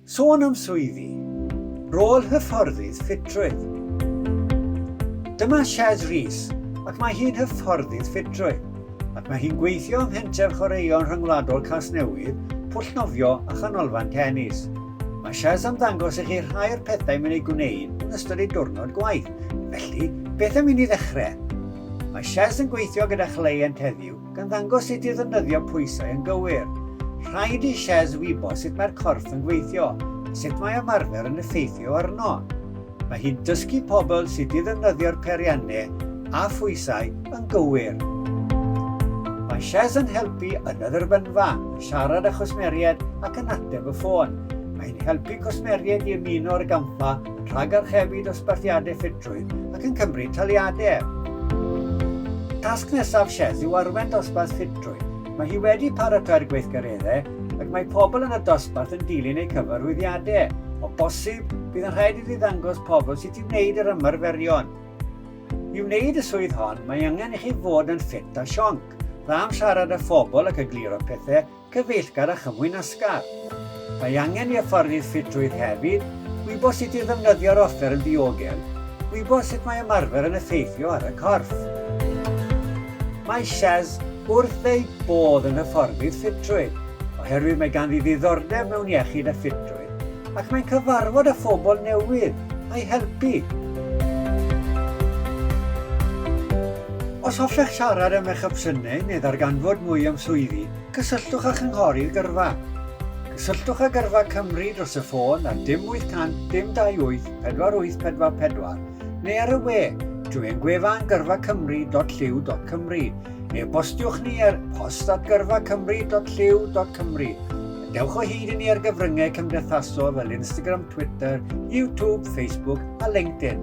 Sôn am swyddi, rôl hyfforddydd ffitrwydd. Dyma Shez Rees ac mae hi'n hyfforddydd ffitrwydd ac mae hi'n gweithio ym Mhenter Chwaraeon Rhyngwladol Casnewydd, Pwllnofio a Chanolfan Tenis. Mae Shez am ddangos i chi rhai o'r pethau mae'n ei gwneud yn ystod ei diwrnod gwaith, felly beth am i ni ddechrau? Mae Shez yn gweithio gyda chleient heddiw Gan ddangos sut i ddefnyddio pwysau yn gywir, rhaid i Shez wybod sut mae'r corff yn gweithio a sut mae ymarfer yn effeithio arno. Mae hi'n dysgu pobl sut i ddefnyddio'r peiriannau a phwysau yn gywir. Mae Shez yn helpu yn y dderbynfa, yn siarad â chwsmeriaid ac yn ateb y ffôn. Mae hi'n helpu cwsmeriaid i ymuno â'r gampfa yn rhagarchebu dosbarthiadau ffitrwydd ac yn cymryd taliadau er. Tasg nesaf Sheth yw arwain dosbarth ffitrwydd. Mae hi wedi paratoi'r gweithgareddau ac mae pobl yn y dosbarth yn dilyn eu cyfarwyddiadau. O bosib, bydd yn rhaid iddi ddangos pobl sut i wneud yr ymarferion. I wneud y swydd hon, mae angen i chi fod yn ffit a sionc, dda am siarad â phobl ac egluro pethau, Cyfeillgar a chyfwyn asgar. Mae angen i hyfforddi ffitrwydd hefyd wybod sut i ddefnyddio'r offer yn ddiogel, gwybod sut mae ymarfer yn effeithio ar y corff. Mae Shaz wrth ei bodd yn hyfforddydd ffitrwydd oherwydd mae ganddi ddiddordeb mewn iechyd a ffitrwydd. Ac mae'n cyfarfod â phobl newydd, a'i helpu. Os hoffech siarad am eich opsiynau neu ddarganfod mwy am swyddi, cysylltwch â Chynghorydd Gyrfa. Cysylltwch â Gyrfa Cymru dros y ffôn ar dim 800 dim 28 4844 neu ar y we drwy ein gwefan gyrfacymru.llyw.cymru neu bostiwch ni ar post at gyrfacymru.llyw.cymru Dewch o hyd i ni ar gyfryngau cymdeithasol fel Instagram, Twitter, YouTube, Facebook a LinkedIn.